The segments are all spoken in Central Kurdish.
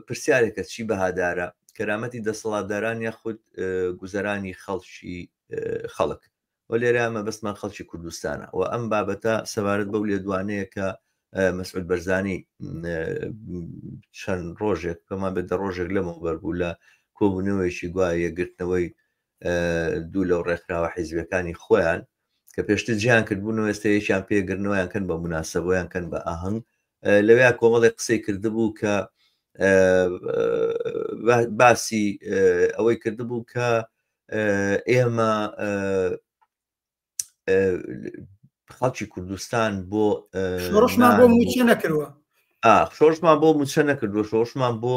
پرسیارێکە چی بەهادارە، کەرامەتی دەسەڵاتداران یاخود گوزەرانی خەڵکی خەڵک؟ و لێرە مەبەستمان خەڵکی کوردستانە و ئەم بابەتە سەبارەت بەو لێدوانەیە کە مەسعود بەرزانی چەند ڕۆژێک پێمان بێت دە ڕۆژێک لەمەوە بەربوو لە کۆبوونەوەیەکی گوایە یەکگرتنەوەی دوو لەو ڕێکخراوە حیزبەکانی خۆیان کە پێشتر جیان کردبوون و ئێستا یەکیان پێگرنەوەیان کەن بە مناسەبەیان کەن بە ئاهنگ لەوێیا کۆمەڵێک قسەی کردبوو کە باسی ئەوەی کردبوو کە ئێمە خەڵکی کوردستان بۆ شۆڕشمان بۆ موچە نەکردوە شۆڕشمان بۆ موچە نەکردوە شۆڕشمان بۆ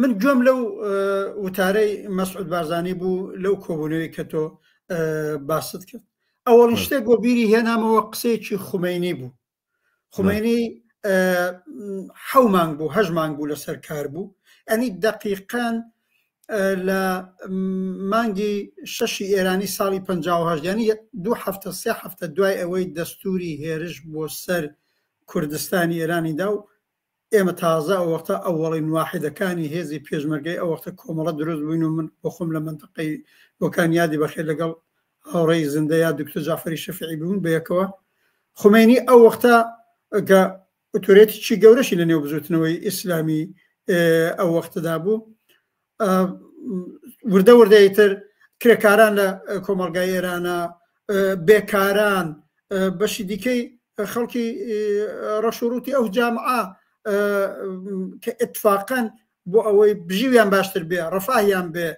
من گوێم لەو وتارەی مەسعود بارزانانی بوو لەو کۆبوونەوەی کە تۆ باست کرد ئەوەڵ شتێک بۆ بیری هێنامەوە قسەیەکی خومینی بوو خومینی حەو مانگ بوو هەژ مانگ بوو لەسەر کار بوو ئەنی دقیقان لە مانگی شەشی ئێرانی ساڵی پهژدانی دو هەفتە سێ هەفتە دوای ئەوەی دەستوری هێرش بۆ سەر کوردستانی ئێرانیدا و ئێمە تازە ئەوەختە ئەوەڵین واحیدەکانی هێزی پێشمەرگەی ئەوەختە کۆمەڵە دروست بووین و من بۆ خۆم لە مندقەی بۆکان یادی بەخێر لەگەڵ هاوڕێی زندە یا دکتۆر جعفری شەفعی بوون بەیەکەوە خمێنی ئەو وەختە گە ئۆتۆرێتیی گەورەشی لە نێو بزوتنەوەی ئیسلامی ئەو وەختەدا بوو وردە وردەی تر کرێکاران لە کۆمەلگای ئێرانە بێکاران بەشی دیکەی خەڵکی ڕەش و ڕووتی ئەو جامعە کە اتفاقەن بۆ ئەوەی بژیویان باشتر بێ ڕفاهیان بێ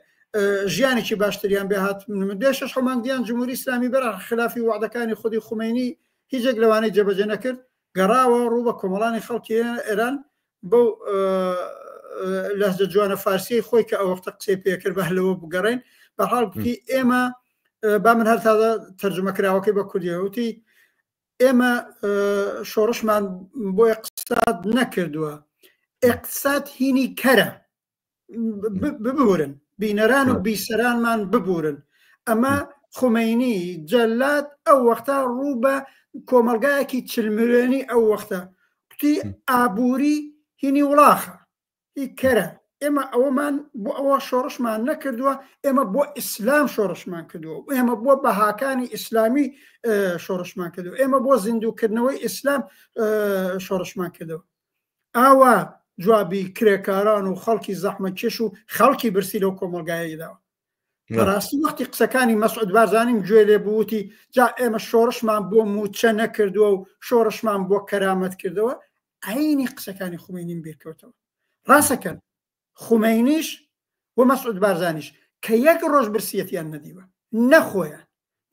ژیانێکی باشتریان بێ هات دێشش حمانگیان جمهوری ئسلامی بەر خلافی وعدەکانی خودی خومینی هیچێک لەوانەی جێبەجێ نەکرد گەڕاوە ڕوو بە کۆمەڵانی خەڵکی ئێران بەو لەهجە جوانە فارسیەی خۆی کە ئەوەختە قسەی پێکرد بە هەلەوە بگەڕێن بە حاڵی ئێمە با من هەر تازە تەرجمە کراوەکەی بە کوردیوتی ئێمە شۆڕشمان بۆ اقتصاد نەکردووە اقتصاد هینی کەرە ببورن بینەران و بیسەرانمان ببورن ئەمە خمینی جەلات ئەو وەختا ڕوو بە کۆمەلگایەکی چلمرێنی ئەو وەختە کوتی ئابووری هینی وڵاخە هی کەرە ئێمە ئەوەمان بۆ ئەوە شۆڕشمان نەکردووە ئێمە بۆ ئیسلام شۆڕشمان کردووە ئێمە بۆ بەهاکانی ئیسلامی شۆڕشمان کردو ئێمە بۆ زیندووکردنەوەی ئیسلام شۆڕشمان کردەوە ئاوا جوابی کرێکاران و خەڵکی زەحمە کێش و خەڵکی برسی لەو کۆمەلگایەی داوە بەڕاستی وەختی قسەکانی مەسعود بارزانیم گوێ لێ بووتی جا ئێمە شۆڕشمان بۆ موچە نەکردووە و شۆڕشمان بۆ کەرامەت کردەوە عینی قسەکانی خوێنین بیرکەوتەوە ڕاستەکەن خومەینیش و مەسعود بارزانیش کە یەک ڕۆژ برسیەتیان نەدیوە نە خۆیان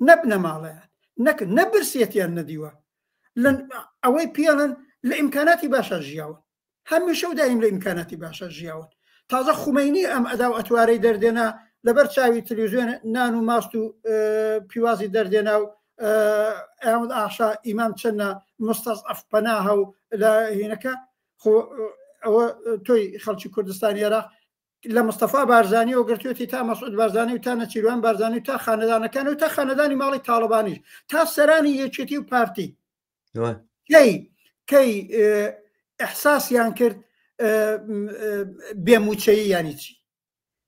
نە بنەماڵەیان نەک نە برسیەتیان نەدیوە ئەوەی پێڵن لە ئیمکاناتی باشە ژیاون هەمیشە و دایم لە ئیمکاناتی باشە ژیاون تازە خومەینی ئەم ئەدا و ئەتوارەی دەردێنا لەبەر چاوی تلویزیۆن نان و ماست و پیوازی دەردێنا و ئەمد ئاشا ئیمام چەنە مستەز ئەفپەناهە و لە هینەکە خۆ ئەوە تۆی خەڵکی کوردستانی عێراق لە مستەفا بارزانانی و گرتوێتی تا مەسعود بارزانانی و تا نەچیروان بارزانانی تا خانەدانەکان و تا خانەدانی ماڵی تاالبانیش تا سەرانی یەکێتی و پارتی کەی کەی ئەحساسیان کرد بێموچەیی ینی چی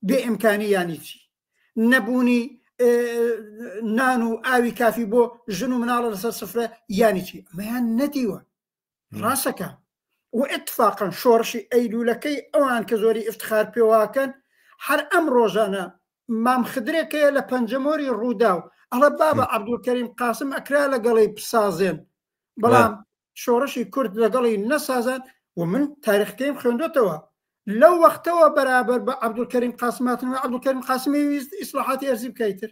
بێ ئیمکانی ینی چی نەبوونی نان و ئاوی کافی بۆ ژن و مناڵە لەسەر سفرە یانی چی ئەمەیان نەدیوە ڕاستەکە و اتفاقا شۆڕشی ئەیلولەکەی ئەوان کە زۆری افتخار پێواکەن هەر ئەم ڕۆژانە مام خدرێکەیە لە پەنجەمۆری ڕووداو ئەڵە بابە عبدولکەریم قاسم ئەکرا لەگەڵی بسازێن بەڵام شۆڕشی کورد لەگەڵی نەسازان و من تاریخکەیم خوێندوتەوە لەو وەختەوە بەرابەر بە عبدولکەریم قاسماتن عبدولکەریم قاسمی ویست ئیسلاحاتی ئەرزی بکەیتر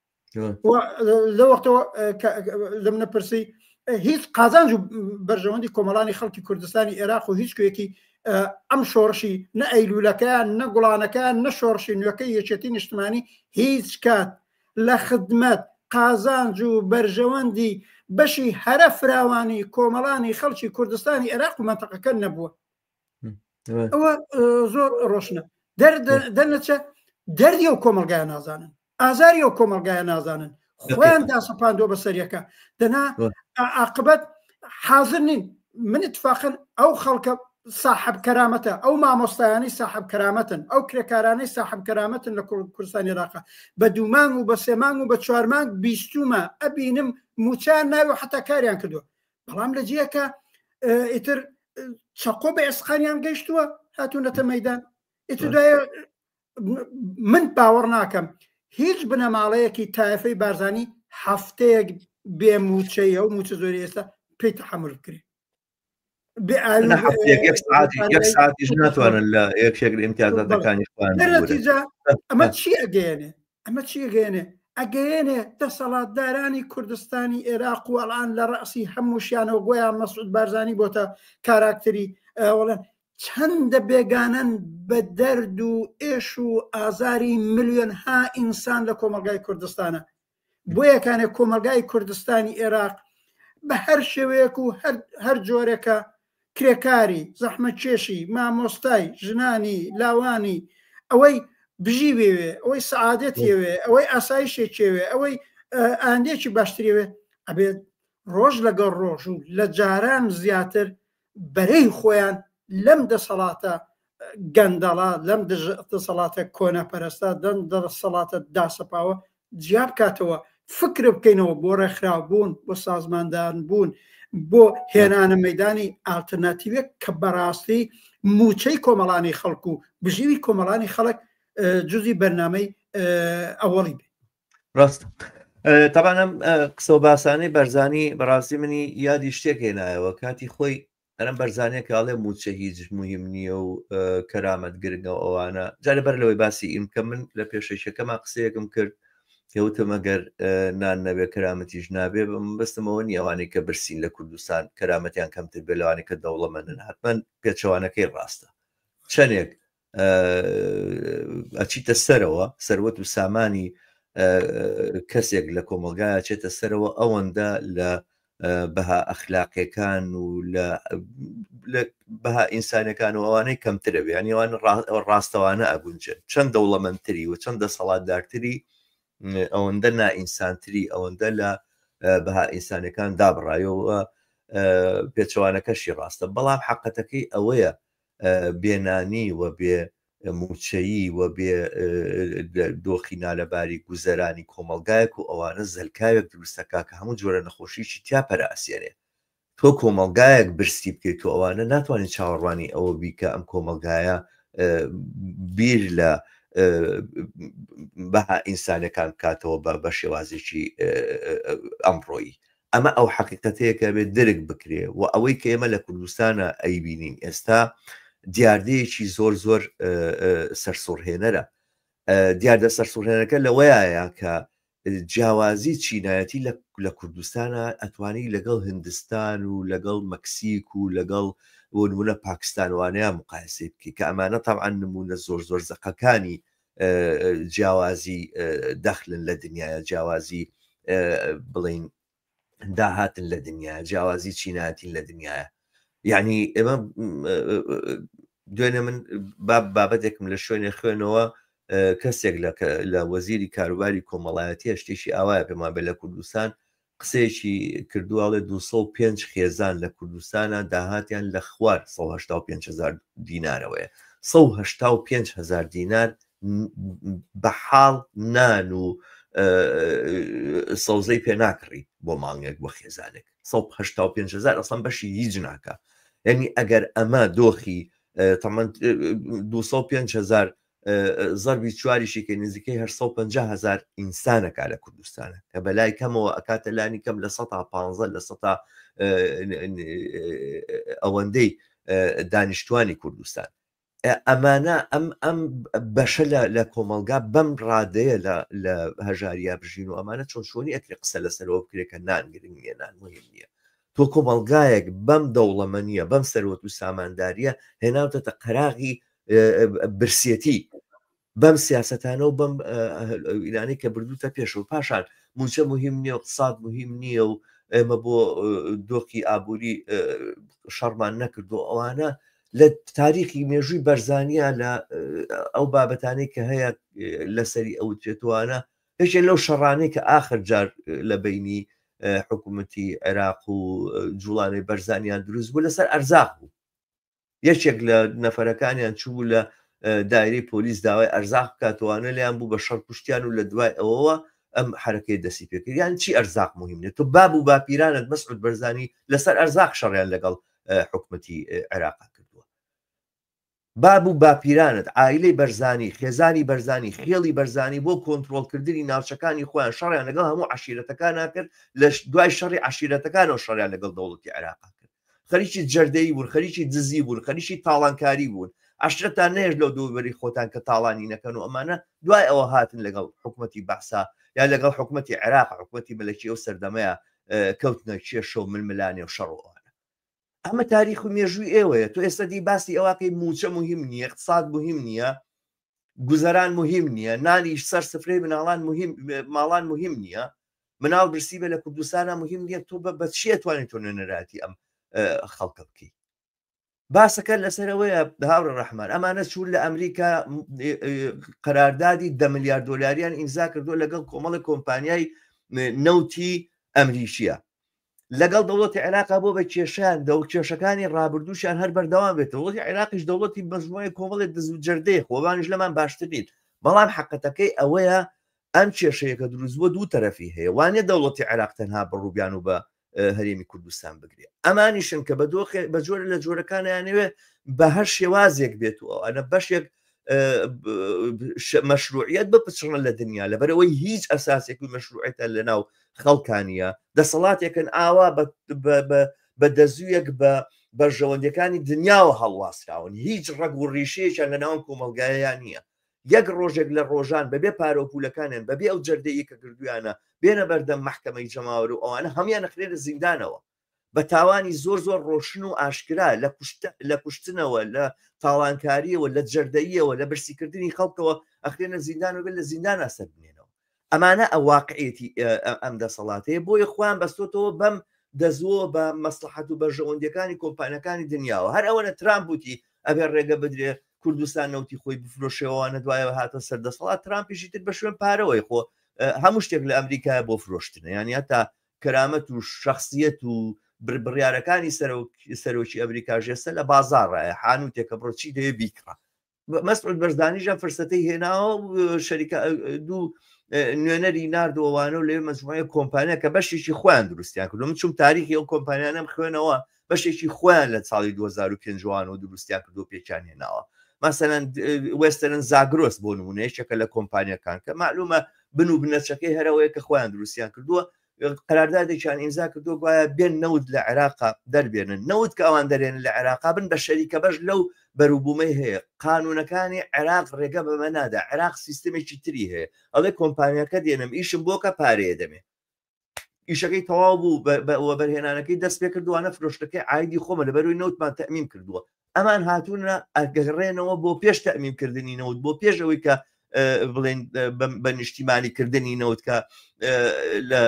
لە وەختەوە لە منە پرسی هیچ قازانج و بەرژەوەندی کۆمەڵانی خەڵکی کوردستانی عێراق و هیچ کوێکی ئەم شۆڕشی نە ئەیلولەکەیان نە گوڵانەکەیان نە شۆڕشی نوێەکەی یەکێتی نیشتمانی هیچ کات لە خدمەت قازانج و بەرژەوەندی بەشی هەرە فراوانی کۆمەڵانی خەڵکی کوردستانی عێراق و منتەقەکە نەبووە ئەوە زۆر ڕۆشنە دەرنەچە دەردی و کۆمەلگای نازانن ئازاری و کۆمەلگای نازانن خۆیان داسەپاندۆ بە سەریەکە دەنا عقبەت حاضر نین من اتفاقن ئەو خەڵکە ساحب کەرامەتە ئەو مامۆستایانی ساحب کەرامەتن ئەو کرێکارانەی ساحب کەرامەتن لە کوردستانی راقە بە دوومان و بە سێمان و بە چوارمان بیستومە ئەبینم موچان ناوی حتا کاریان کردو بەڵام لە جیەکە ئیتر چەقۆ بە ئێسقانیان گەشتووە هاتوونەتە مەدان ئیتر دوایە من باوەڕ ناکەم هیچ بنەماڵەیەکی تایفەی بارزانانی هەفتەیەک بێ موچەیە و موچە زۆری ئێستا پێی تحمل بکرێت ناتوانن لە یەکێک لە امتیازاتەکانی ئەمە چی ئەگەێنێ ئەمە چی ئەگەێنێ ئەگەێنێ دەسەڵاتدارانی کوردستانی ئێراق و ئەڵان لە ڕاسی هەمووشیانەوە بۆیان مەسعود بارزانانی بۆتە کاراکتری ئەوڵێن چەندە بێگانن بە دەرد و ئێش و ئازاری ملیۆن ها ئینسان لە کۆمەلگای کوردستانە بۆ یەکانێک کۆمەلگای کوردستانی ئێراق بە هەر شێوەیەک و هەر جۆرێکە کرێکاری، زەحمەتکێشی، مامۆستای، ژنانی، لاوانی، ئەوەی بژی بێوێ، ئەوەی سەعادەت یەوێ، ئەوەی ئاسایشێک یەوێ، ئەوەی ئایندەیەکی باشتر یەوێ، ئەبێت ڕۆژ لەگەڵ ڕۆژ و لە جاران زیاتر بەرەی خۆیان لەم دەسەڵاتە گەندەڵە لەم دەسەڵاتە کۆنەپەرستە دەن دەسەڵاتە داسەپاوە جیا بکاتەوە فکر بکەینەوە بۆ ڕێکخراوبوون بۆ سازماندان بوون بۆ هێنانە مەدانی ئالتەرناتیوێک کە بەڕاستی موچەی کۆمەڵانی خەڵک و بژیوی کۆمەڵانی خەڵک جزی بەرنمەی ئەوەڵی بێ ڕاست تەبانم قسە باسانەی بەرزانی بەڕاستی منی یادی شتێک هێنایەوە کاتی خۆی ئەرەم بەرزانەکە ئەڵێ موچە هیچ مهم نییە و کەرامەت گرنگە و ئەوانە جارە بەر لەوەی باسی ئیم کە من لە پێشەیشەکەما قسەیەکم کرد کەوتم ئەگەر نان نەبێ کەرامەتیش نابێ بەستمەوە نیەوانەی کە برسین لە کوردستان کەرامەتیان کەمتر بێ لەوانەی کە دەوڵەمەندن حتمما پێچەوانەکەی ڕاستە چەندێک ئەچیتە سەرەوە سەروەت و سامانی کەسێک لە کۆمەلگایە چێتە سەرەوە ئەوەندە لە بەها ئەخلاقیەکان و لە بەها ئینسانەکان و ئەوانەی کەمترە بیانیوان ڕاستەوانە ئەگونجن چەند دەوڵەمەندتری و چەند دەسەڵاتدارتری ئەوەندە نائینسانتری ئەوەندە لە بەها ئینسانەکان دابڕایەوە پێچوانەکەشی ڕاستە بەڵام حقەتەکەی ئەوەیە بێ نانی و بێ مووچەیی و بێ دۆخی نالەباری گوزەرانی کۆمەڵگایەک و ئەوانە زەلکاوێک دروست دەکا کە هەموو جۆرە نەخۆشییەکی تیا پەرەئەسێنێ. تۆ کۆمەڵگایەک برسی بکەیت و ئەوانە ناتوانین چاوەڕوانی ئەوە بی کە ئەم کۆمەڵگایە بیر لە بەها ئینسانەکان بکاتەوە بە شێوازێکی ئەمڕۆیی. ئەمە ئەو حەقیقەتەیە کە ئەبێت درک بکرێ و ئەوەی کە ئێمە لە کوردستانا ئەیبینین ئێستا دیاردەیەکی زۆر زۆر سەرسوڕهێنەرە دیاردە سەرسوڕهێنەکە لەوەیە کە جیاوازی چینایەتی لە کوردستانە ئەتوانی لەگەڵ هندستان و لەگەڵ مەکسیک و لەگەڵ وەنمونە پاکستانوانەیە مقایسی بکە کە ئەمانە تاعاان نمونە زۆر زۆر زەقەکانی جیاوازی دەخلن لە دنیاە جیاوازی بڵین داهاتن لە دنیا جیاوازی چیناتین لە دنیاە یعنی ئێمە دوێنێ من بابەتێکم لە شوێنێ خوێنەوە کەسێک لە وەزیری کاروباری کۆمەڵایەتی هەشتێکی ئاوایە پێمان بێ لە کوردستان قسەیەکی کردووە ئەڵێ دوو سەد و پێنج خێزان لە کوردستانا داهاتیان لە خوار سەد و هەشتا و پێنج هەزار دینارەوەیە سەد و هەشتا و پێنج هەزار دینار بە حاڵ نان و سەوزەی پێ ناکڕی بۆ مانگێک بۆ خێزانێک سەد و هەشتا و پێنج هەزار ئەسڵم بەشی هیچ ناکە یعنی ئەگەر ئەمە دۆخی تەمەند دو سەد و پێنج هەزار زەربی چواریشی کە نزیکەی هەشت سەد و پەنجا هەزار ئینسانە کا لە کوردستانە کە بە لای کەمەوە ئەکاتە لانی کەم لە سەدا پانزە لە سەدا ئەوەندەی دانیشتوانی کوردستان ئەمانە ئەم ئەم بەشە لە کۆمەلگا بەم ڕادەیە لە هەژاریا بژین و ئەمانە چۆن شۆنی ئەکرێ قسە لەسەرەوە بکرێت کە نانگرنگ نیە نان مهم نیە تۆ کۆمەلگایەک بەم دەوڵەمە نیە بەم سەروەت و سامانداریە هێناوتەتە قەراغی برسێتی بەم سیاستانە و بەم ئیرانەی کە بردوتە پێش و پاشان موچە مهم نییە و قسات مهم نییە و ئێمە بۆ دۆخی ئابووری شەڕمان نەکردو ئەوانە لە تاریخی مێژووی بەرزانیا لە ئەو بابەتانەی کە هەیە لەسەری ئەو توێتوانە هێشێ لەو شەڕانەی کە ئاخر جار لە بینی حکوومەتی عێراق و جوڵانەی بەرزانیان دروست بوو لەسەر ئەرزاق بوو یەکێک لە نەفەرەکانیان چوو لە دایری پۆلیس داوای ئەرزاق بکاتوانە لیان بوو بە شەڕ کوشتیان و لە دوای ئەوەوە ئەم حرەکەی دەسی پێکردیان چی ئەرزاق مهمێت تۆ باب و باپیرانت مەسعود بەرزانی لەسەر ئەرزاق شەڕیان لەگەڵ حکومەتی عێراق کردووە باب و باپیرانت ئایلەی بەرزانی خێزانی بەرزانی خێڵی بەرزانی بۆ کۆنتترۆلکردنی ناوچەکانی خۆیان شەڕیان لەگەڵ هەموو عشیرەتەکان ناکرد لە دوای شەڕی عشیرەتەکانەوە شەڕیان لەگەڵ دەوڵەتی عێراق کرد خەریکی جەردەیی بوون خەریکی دزی بوون خەریکی تاڵانکاری بوون عشرەتان نێژ لەو دووبەری خۆتان کە تاڵانی نەکەن و ئەمانە دوای ئەوە هاتن لەگەڵ حکوومەتتی بەسا یا لەگەڵ حکوومەتتی عێراق حکوومەتتی مەلکی ئەو سەردەمەیە کەوتنە کێشە و ململانێ و شەڕوانە ئەمە تاریخ و مێژووی ئێوەیە تو ئێستا دی باسی ئەوەکەی موچە مهم نییە اقتصاد مهم نییە گوزەران مهم نییە نانیش سەر سفرەی مناڵان ماڵان مهم نییە مناڵ برسی بێ لە کوردستانە مهم نییە تۆ بە بەچیە توانێت تۆ نوێنەراتی ئەم خەڵکە بکەیت باسەکە لەسەرەوەیە هاوڕە ڕحمان ئەمانە چوون لە ئەمریکا قەراردادی دە میلیارد دلاریان ئینزا کردو لەگەڵ کۆمەڵی کۆمپانیای نەوتی ئەمریکیە لەگەڵ دەوڵەتی عێراقا بۆ بە کێشەیان دەو کێشەکانی ڕابردووشیان هەر بەردەوام بێت وڵی عێراقیش دەوڵەتی بەژمای کۆمەڵێک دەزوو جەردەیە خۆبانیش لەمان باشترین بەڵام حقەتەکەی ئەوەیە ئەم کێشەیەکە دروست بۆ دوو تەرەفی هەیە وانە دەوڵەتی عێراق تەنها بەڕووبیان و بە هەرێمی کوردستان بگرێ ئەمانیشن کە بە دۆخێ بە جۆرە لە جۆرەکانیانەوێ بە هەر شێوازێک بێت و ئەە بەشێک مەشروعیت بپچڕن لە دنیا لەبەرەوەی هیچ ئەساسێک و مەشروعێتە لە ناو خەڵکانە دەسەڵاتێکن ئاوا بە دەزویەک بە بەرژەوەندەکانی دنیاوە هەڵواسراون هیچ ڕەگ و ڕیشەیەکیان لە ناوم کۆمەلگایان نییە یەک ڕۆژێک لە ڕۆژان بەبێ پارۆپولەکانیان بەبێ ئەو جەردەیە کە کردویانە بێنە بەردەم محکمەی جەماوەر و ئەوانە هەمان نەخرێنە زیندانەوە بە تاوانی زۆر زۆر ڕۆشن و ئاشکرا، لە کوشت لە کوشتنەوە، لە تاڵانکارییەوە، لە جەردەییەوە، لە برسیکردنی خەڵکەوە ئەخرێنە زیندان و بێت لە زیندانا سەربمێنەوە. ئەمانە واقعیەتی ئەم دەسەڵاتەیە، بۆیە خۆیان بەستۆتەوە بەم دەزووەوە بە مەسڵەحەت و بەرژەوەندییەکانی کۆمپانیاکانی دنیاوە. هەر ئەوەنە ترامپ وتی ئەبێ ڕێگە بدرێ کوردستان نەوتی خۆی بفرۆشێ ئەوانە دوایەوە هاتنە سەر دەسەڵات، ترامپیشی تر بە شوێن پارەوەی خۆ هەموو شتێک لە ئەمریکایە بۆ فرۆشتنە یانی هەتا کەرامەت و شەخسیەت و بڕیارەکانی سەرۆکی ئەمریکا ژێستە لە بازارڕە حانوتێکە بڕۆ چی دەوێ بیکڕە مەسعود بەرزانیژە فرسەتی هێناوە شەریکە دوو نوێنەری نردوەوانە و لێ مەزمایە کۆمپانیا کە بەشێکی خۆیان دروستیان کردو من چوم تاریخی ئەو کۆمپانیانم خوێنەوە بەشێکی خۆیان لە ساڵی دوو هەزار و پێنج وانەوە دروستیان کردو پێکیان هێناوە مەسەلەن وێستەرن زاگرۆس بۆ نمونە یەکێکە لە کۆمپانیەکان کە معلومە بن و بنەچەکەی هەرەوەیە کە خۆیان دروستیان کردووە قراردادێکیان ئیمزا کردو گوایە بێن نەوت لە عێراقا دەربێنن نەوت کە ئەوان دەرێن لە عێراقا بن بە شەریکە بەش لەو بەروبوومەی هەیە قانونەکانی عێراق ڕێگە بەمە نادا عێراق سیستمێکی تری هەیە ئەڵێ کۆمپانیەکە دێنم ئیشم بۆکە پارەیە دەمێ ئیشەکەی تەواو بوو وەبەرهێنانەکەی دەست پێ کردوانە فرۆشتەکەی ئایدی خۆمە لە بەروی نەوتمان تەمیم کردووە ئەمان هاتوونە ئەگەڕێنەوە بۆ پێش تەمیم کردنی نەوت بۆ پێش ئەوەی کە بڵێن بە نیشتیمانی کردنی نەوت کە لە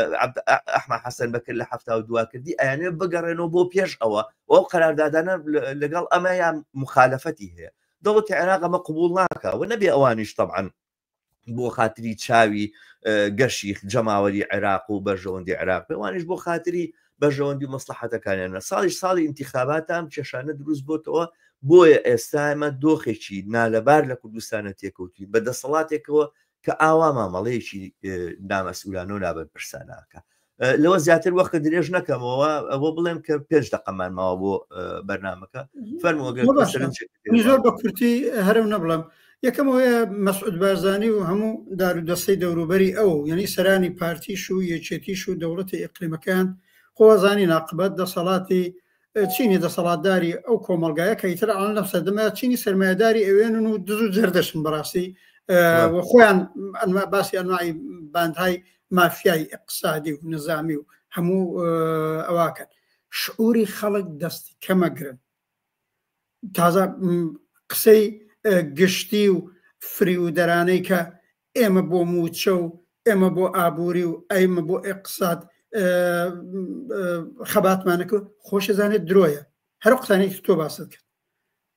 ئەحمە حەسەن بەکرد لە هەفتا و دوا کردی ئەیانێ بگەڕێنەوە بۆ پێش ئەوە ئەو قەراردادانە لەگەڵ ئەمە یان مخالفەتی هەیە دەوڵەتی عێراق ئەمە قوبول ناکە و نەبێ ئەوانیش تەعاان بۆ خاتری چاوی گەشی جەماوەری عێراق و بەرژەوەندی عێراق پێوانش بۆ خاتری بەژەوەندی مەسلحەتەکانیانە ساڵیش ساڵی انتخاباتام کێشانە دروست بۆتەوە بۆیە ئێستا ئەمە دۆخێکی نالەبار لە کوردستانە تێکەوتین بە دەسەڵاتێکەوە کە ئاوا مامەڵەیەکی نامەسئولانە و نابەرپرساناکە لەوە زیاتر وەخت درێژ نەکەمەوە ئەوە بڵێم کە پێش دەقەمان ماوە بۆ بەرنمەکە زۆر بە کورتی هەرم نەبڵم یەکەمەوەیە مەسعود بارزانانی و هەموو دارودەستەی دەوروبەری ئەو یعنی سەرانی پارتیش و یەکێتیش و دەوڵەتی ئەقلیمەکان خۆزانی ناقبەت دەسەڵاتی چینی دەسەڵاتداری ئەو کۆمەڵگایە کە ئیتر ئەڵەن لەم سەردەمە چینی سەرمایەداری ئەوێنن و دز و جەردەشن بەڕاستی و خۆیان ئەنما باسی ئەنمای باندهای مافیای اقتصادی و نظامی و هەموو ئەواکەن شعوری خەڵک دەستی کەمەگرن تازە قسەی گشتی و فریودەرانەی کە ئێمە بۆ موچە و ئێمە بۆ ئابووری و ئەیمە بۆ ئێقساد خەباتمانەکە خۆشەزانێت درۆیە هەر قسانێکی تۆ باست کرد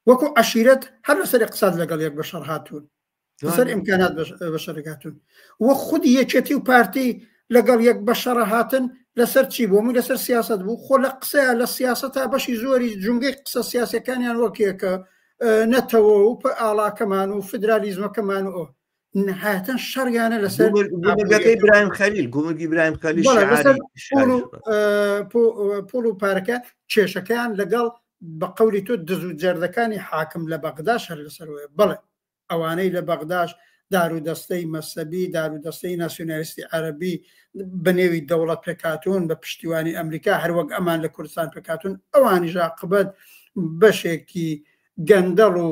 وەکو عشیرەت هەر لەسەر قساد لەگەڵ یەک بەشەڕ هاتوون لەسەر ئیمکانات بەشەرگاتون وە خودی یەکێتی و پارتی لەگەڵ یەک بەشەڕە هاتن لەسەر چی بۆ من لەسەر سیاست بوو خۆ لە قسەیە لە سیاست تا بەشی زۆری جونگەی قسە سیاسەکانیان وەکیەکە نەتەوە و ئاڵاکەمان و فدرالیزمەکەمان و نهایەتەن شەڕیانە لەسەر گومرگەکەی برایم خەلیل گومرگی برایم خەلی پۆڵ و پارەکە کێشەکەیان لەگەڵ بە قولی تۆ دز و جەردەکانی حاکم لە بەغدا شەر لەسەرەوەی بڵێ ئەوانەی لە بەغداش دارودەستەی مەسەبی، دارودەستەی ناسیونالیستی عەرەبی بە نێوی دەوڵەت پێکهاتوون، بە پشتیوانی ئەمریکا، هەر وەک ئەمان لە کوردستان پێکهاتوون، ئەوانیش ئاقبەت بەشێکی گەندەڵ و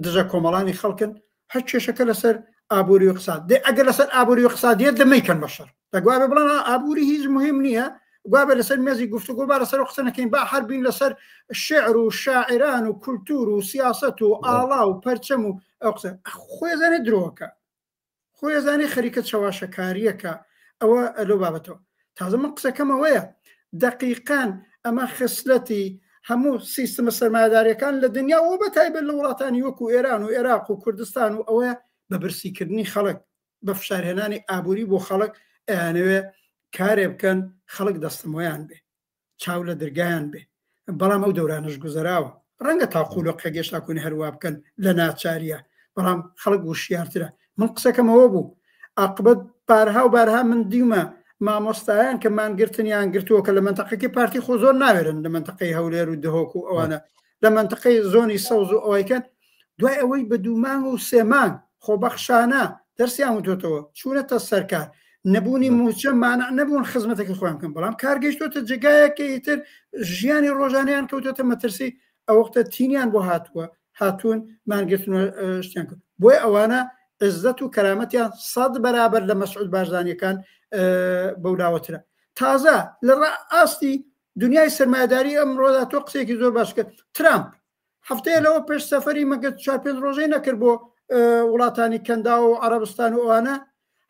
دژە کۆمەڵانی خەڵکن، هەر کێشەکە لەسەر ئابووری و ئیقتساد، دەی ئەگەر لەسەر ئابووری و ئیقتسادیە دە مەیکەن بە شەڕ. دەگوابێ بڵێن ئابووری هیچ مهم نییە گوابێ لەسەر مێزی گفتوگۆ با لەسەر قسە نەکەین با هەربین لەسەر شعر و شاعران و کولتور و سیاست و ئاڵا و پەرچەم و ئەو قسە خۆێزانێ درۆکە خۆێزانانی خەریکە چەواشەکاریەکە ئەوە لەو بابەتەوە تازە من قسەکەمەوەیە دقیقان ئەمە خسلەتی هەموو سیستمە سەرمایدارەکان لە دنیا و بە تایبەت لە وڵاتانی وەکو ئێران و عێراق و کوردستان و ئەوە بە برسیکردنی خەڵک بە فشارهێنانی ئابووری بۆ خەڵک ئەیانەوێ کارێ بکەن خەڵک دەستەمۆیان بێ چاو لە درگایان بێ بەڵام ئەو دەورانش گوزەراوە ڕەنگە تا قولۆ قێگەشتا کونی هەروە بکەن لە ناچاریە بەڵام خەڵک وشیارترە من قسەکەمەوە بوو ئاقبەت بارها و بارها من دیمە مامۆستایان کە مانگرتنیان گرتووە کە لە منتەقەکەی پارتی خۆ زۆر ناوێرن لە منتەقەی هەولێر و دهۆک و ئەوانە لە منتقەی زۆنی سەوز و ئەوەیکەن دوای ئەوەی بە دوومانگ و سێمان خۆبەخشانە دەرسیان وتۆتەوە چوونەتە سەرکار نەبوونی موچە مانع نەبوون خزمەتەکە خۆیان بکەن بەڵام کارگەیشتۆتە جگایەکە ئیتر ژیانی ڕۆژانیان کەوتۆتە مەترسی ئەو وەختە تینیان بۆ هاتووە هاتوون مانگرتن شتیان کرد بۆی ئەوانە عزت و کەرامەتیان سەد بەرابەر لە مەسعود بارزانانیەکان بەولاوەترە تازە لە ئاستی دنیای سەرمایەداری ئەمڕۆدا تۆ قسێکی زۆر باش کرد ترامپ هەفتەیە لەوە پێش سەفەری مەگەر چوار پێنج ڕۆژەی نەکرد بۆ وڵاتانی کەندا و عربستان و ئەوانە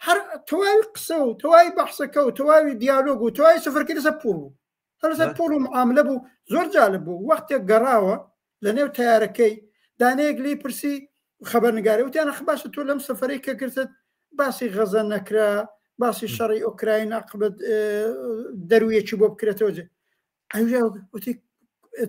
هەر تەواوی قسە و تەواوی بەحسەکە و تەواوی دیالۆگ و تەواوی سەفەرکردسە پوڵ بوو هەرسەر پۆڵ و معاملە بوو زۆر جالب بوو وەختێک گەڕاوە لە نێو تەیارەکەی دانەیەک لی پرسی خەبەرنگاری وتیانە خ باشە تۆ لەم سەفرەی کە کرتت باسی غەزە نەکرا باسی شەڕی ئۆکراین عقبەت دەرویەکی بۆ بکرێتەوە جێ وتی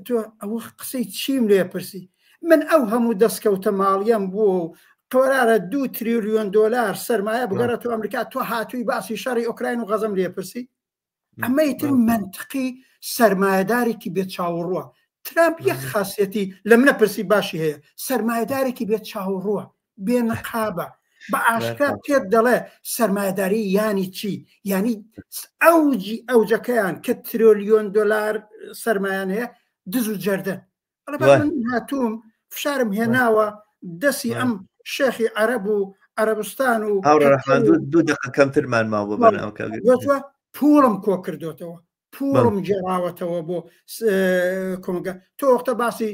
تۆ ئەوە قسەی چیم لێ پرسی من ئەو هەموو دەستکەوتە ماڵیان بووە و قۆرارە دو تریلیۆن دلار سرمایە بگەڕێت و ئەمریکا تۆ هاتووی باسی شەڕی ئۆکراین و غەزم لێپرسی ئەمە ئیتر منتقی سەرمایەدارێکی بێ چاوەڕوە ترامپ یەک خاصەتی لە منە پرسی باشی هەیە سەرمایەدارێکی بێ چاوەڕوە بێ نقابە بە ئاشکرا پێت دەڵێ سەرمایەداری ینی چی ینی ئەوجی ئەوجەکەیان کە ترۆلیۆن دلار سەرمایان هەیە دز و جەردە هاتووم فشارم هێناوە دەسی ئەم شێخی عەرەب و عەربستان و دوو دقە کەمترمان ماوە بەناوکە پوڵم کۆ کردوتەوە پوڵم جێراوەتەوە بۆ کۆمەگە تۆ وەختە باسی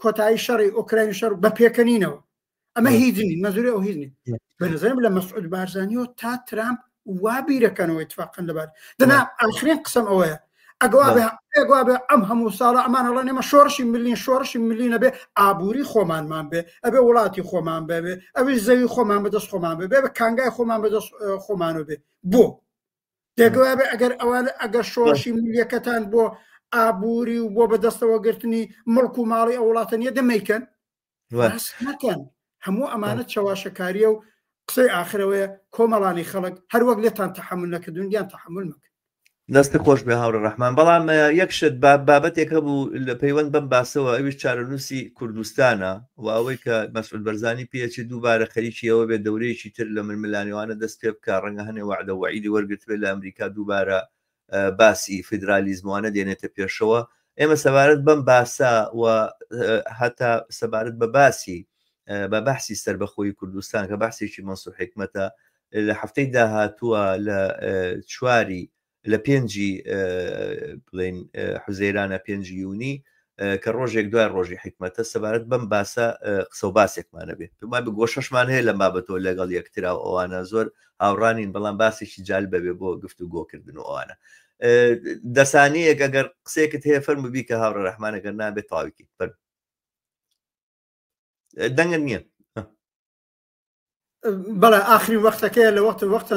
کۆتایی شەڕی ئۆکراین شەر بە پێکەنینەوە ئەمە هیچ نین مەزوری ئەو هیچ نین بەنظرم لە مەسعود بارزانانیەوە تا ترامپ وا بیرەکەنەوەی تفاقن لەبار دەنا ئاخرین قسم ئەوەیە ئەگوابێ ئەم هەموو ساڵە ئەمان هەڵە نێمە شۆڕشی ملین شۆڕشی ملینە بێ ئابووری خۆمانمان بێ ئەبێ وڵاتی خۆمان بەبێ ئەوی زەوی خۆمان بەدەست خۆمان بێ بێ کانگای خۆمان بەدەست خۆمانەوە بێ بۆ دەگوابێ ئەگەر ئەوان ئەگەر شۆڕشی ملیەکەتان بۆ ئابووری و بۆ بەدەستەوە گرتنی مڵک و ماڵی ئەو وڵاتە نیە دەمەیکەن باس نەکەن هەموو ئەمانە چەواشەکاریە و قسەی ئاخرەوەیە کۆمەڵانی خەڵک هەروەک لێتان تەحمل نەکردون دیان تەحمل مەکە دەستی خۆش بێ هاوڕە ڕحمان بەڵام یەک شت بابەتێک هەبوو لە پەیوەند بەم باسەوە ئەویش چارەنووسی کوردستانە و ئەوەی کە مەسعود بەرزانی پێچی دووبارە خەریکی ئەوە بێت دەورەیەکی تر لە ململانێوانە دەست پێ بکە ڕەنگە هەنێ وعدە وعیدی وەرگتبێت لە ئەمریکا دووبارە باسی فیدرالیزموانە دێنێتە پێشەوە ئێمە سەبارەت بەم باسە و هەتا سەبارەت بە باسی بە بەحسی سربەخۆی کوردستان کە باسێکی مەسو حکمەتە لە هەفتەی داهاتووە لە چواری لە پێنجی بڵین حوزەیرانە پێنج یونی کە ڕۆژێک دوای ڕۆژی حیکمەتە سەبارەت بەم باسە قسە و باسێکمان هەبێ پێمان بە گۆشەشمان هەیە لەم بابەتەوە لەگەڵ یەکترا و ئەوانە زۆر هاوڕا نین بەڵام باسێکی جال بەبێ بۆ گفت و گۆکردن و ئەوانە دەسانەیەک ئەگەر قسێکت هەیە فەرمو بی کە هاوڕە ڕەحمانەگەر نابێت تاویکی فەرم دەنگت نییە بەڵێ ئاخری وەختەکەی لە وەختە وەختە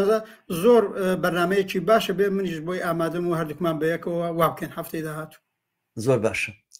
زۆر بەرنمەیەکی باشە بێ منیش بۆی ئامادەم و هەردووکمان بەیەکەوە وابکەن هەفتەی داهاتوو زۆر باشە